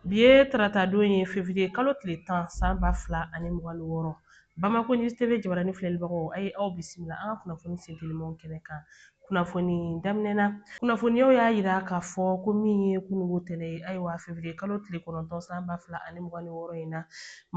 Bi ye taratadon ye fevriye kalo tile tan san ba fila ani mugan ni wɔɔrɔ bamako news tv jabaranin filɛlibagaw a ye aw bisimila an ka kunnafoni sentelimaw kɛnɛ kan kunnafoni daminɛ na kunnafoniyaw y'a yira k'a fɔ ko min ye kununko tɛnɛn ye ayiwa fevriye kalo tile kɔnɔntɔn san ba fila ani mugan ni wɔɔrɔ in na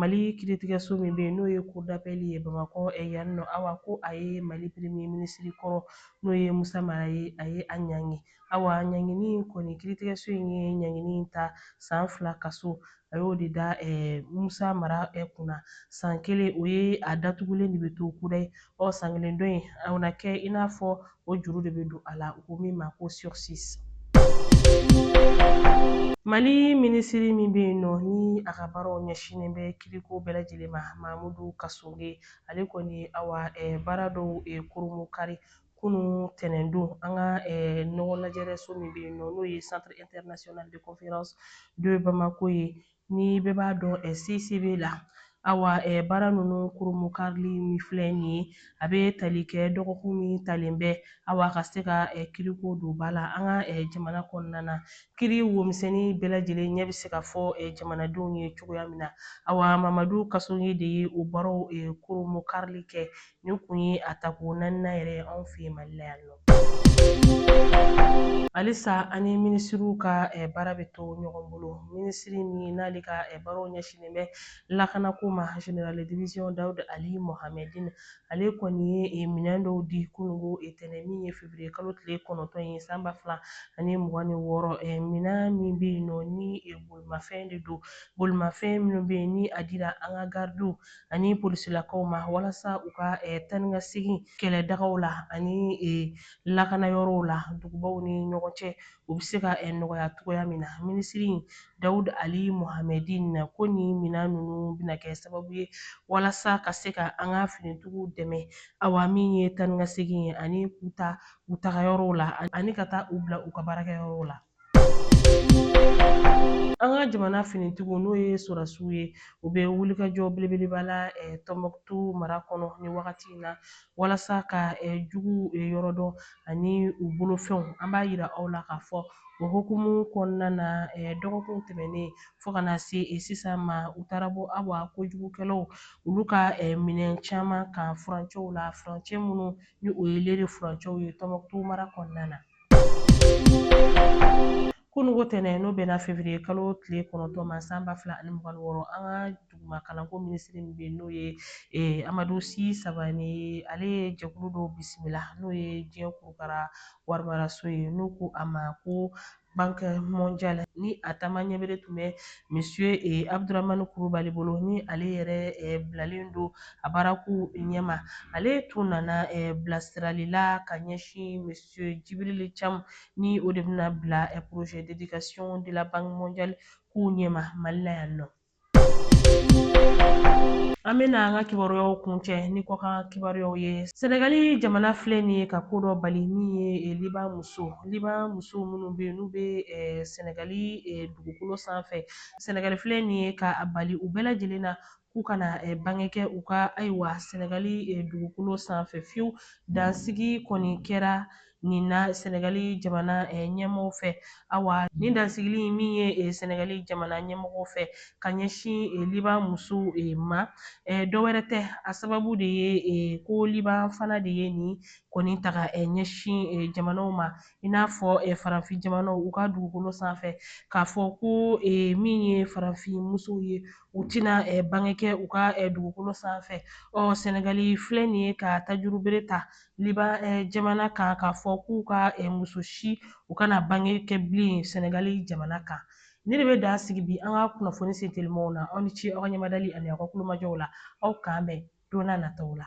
mali kiritigɛso min bɛ yen n'o ye cour d'appel ye bamakɔ yan nɔ awa ko a ye mali premier minisiri kɔrɔ n'o ye musa mara ye a ye a ɲangi Awa ɲangini in kɔni kiritigɛso in ye ɲangini in ta san fila kaso a y'o de da Musa Mara kunna san kelen o ye a datugulen de bɛ to kudayi ɔ san kelen dɔ in a na kɛ i n'a fɔ o juru de bɛ don a la u ko min ma ko sursis. Mali minisiri min bɛ yen nɔ ni a ka baaraw ɲɛsinnen bɛ kiriko bɛɛ lajɛlen ma Mamudu Kasonge ale kɔni awa baara dɔw kurunbonkari kunun tɛnɛndon an ka ɲɔgɔn lajɛrɛso min bɛ yen nɔ n'o ye centre international de conférence de bamako ye ni bɛɛ b'a dɔn cicb la awa baara ninnu kurunbonkarili min filɛ nin ye a bɛ tali kɛ dɔgɔkun min talen bɛ awa ka se ka kiriko don ba la an ka jamana kɔnɔna na kiri womisɛnnin bɛɛ lajɛlen ɲɛ bɛ se ka fɔ jamanadenw ye cogoya min na awa mamadu kasonge de ye o baaraw kurunbonkarili kɛ Nin kun ye a tako naaninan yɛrɛ ye anw fɛ mali la yan nɔ halisa an ni minisiriw ka baara bɛ to ɲɔgɔn bolo minisiri min n'ale ka baaraw ɲɛsinnen bɛ lakanako ma général de division dawud ali mohamedin ale kɔni ye minɛn dɔw di kununko tɛnɛn min ye fevriye kalo tile kɔnɔntɔn ye san ba fila ani mugan ni wɔɔrɔ minɛn min bɛ yen nɔ ni bolimafɛn de don bolimafɛn minnu bɛ yen ni a dira an ka garidiw ani polisilakaw ma walasa u ka eh, taa ni ka segin kɛlɛdagaw la ani eh, lakana yɔrɔw la dugubaw ni ɲɔgɔn cɛ u bɛ se ka eh, nɔgɔya cogoya min na minisiri dawud ali mohamedin ko nin minan ninnu bɛna kɛ sababu ye walasa ka se ka an ka finitigiw dɛmɛ awa min ye taa ni ka segin ye ani k'u ta u dagayɔrɔw la ani ka taa u bila u ka baarakɛyɔrɔw la An ka jamana finitigiw n'o ye sɔrɔdasiw ye u bɛ wulikajɔ belebeleba la eh, Tɔnbɔkutu mara kɔnɔ nin wagati in na walasa ka eh, jugu eh, yɔrɔ dɔn ani u bolofɛnw an b'a yira aw la k'a fɔ o hukumu kɔnɔna na dɔgɔkun tɛmɛnen fo ka na se sisan ma u taara bɔ awa kojugukɛlaw olu ka minɛn caman kan furancɛw la furancɛ minnu ni o ye Lere furancɛw ye Tɔnbɔkutu mara kɔnɔna na. Kunungo tɛnɛn n'o bɛnna fevrier kalo tile kɔnɔntɔn ma san ba fila ani mugan ni wɔɔrɔ an ka duguma kalanko minisiri min bɛ yen n'o ye eh, Amadu Si Sabane ye ale ye jɛkulu dɔw bisimila n'o ye diɲɛ kurukara warimaraso ye n'u ko a ma ko banque mondiale ni a taama ɲɛbere tun bɛ monsieur eh, Abdramane Kulubali bolo ni ale yɛrɛ eh, bilalen don a baara kun ɲɛma ale tun nana eh, bilasirali la ka ɲɛsin monsieur Jibrili Cam ni o de bɛna bila eh, projet d'éducation de la banque mondiale kun ɲɛma mali la yan nɔ an bɛna an ka kibaruyaw kuncɛ ni kɔkan kibaruyaw ye sɛnɛgali jamana filɛ nin ye ka ko dɔ bali min ye eh, liban muso liban muso minnu bɛ yen n'u bɛ eh, sɛnɛgali eh, dugukolo sanfɛ sɛnɛgali filɛ nin ye ka a bali u bɛɛ lajɛlen na k'u kana bange kɛ u ka ayiwa sɛnɛgali dugukolo sanfɛ fiyewu dansigi kɔni kɛra nin na sɛnɛgali jamana ɲɛmɔgɔw fɛ awa nin dansigili min ye sɛnɛgali jamana ɲɛmɔgɔw fɛ ka ɲɛsin liban musow ma dɔ wɛrɛ tɛ a sababu de ye ko liban fana de ye nin ko nin ta ka ɲɛsin jamanaw ma i n'a fɔ farafin jamanaw u ka dugukolo sanfɛ k'a fɔ ko min ye farafin musow ye u tɛna eh, bange kɛ u ka eh, dugukolo sanfɛ ɔ sɛnɛgali filɛ nin ye ka tajurubere ta liban eh, jamana kan k'a fɔ k'u ka muso si u kana bange kɛ bilen sɛnɛgali jamana kan ne de bɛ dan sigi bi an ka kunnafoni sentelimanw na aw ni ce aw ka ɲɛmadali ani aw ka kulomajɔw la aw k'an bɛn don n'a nataw la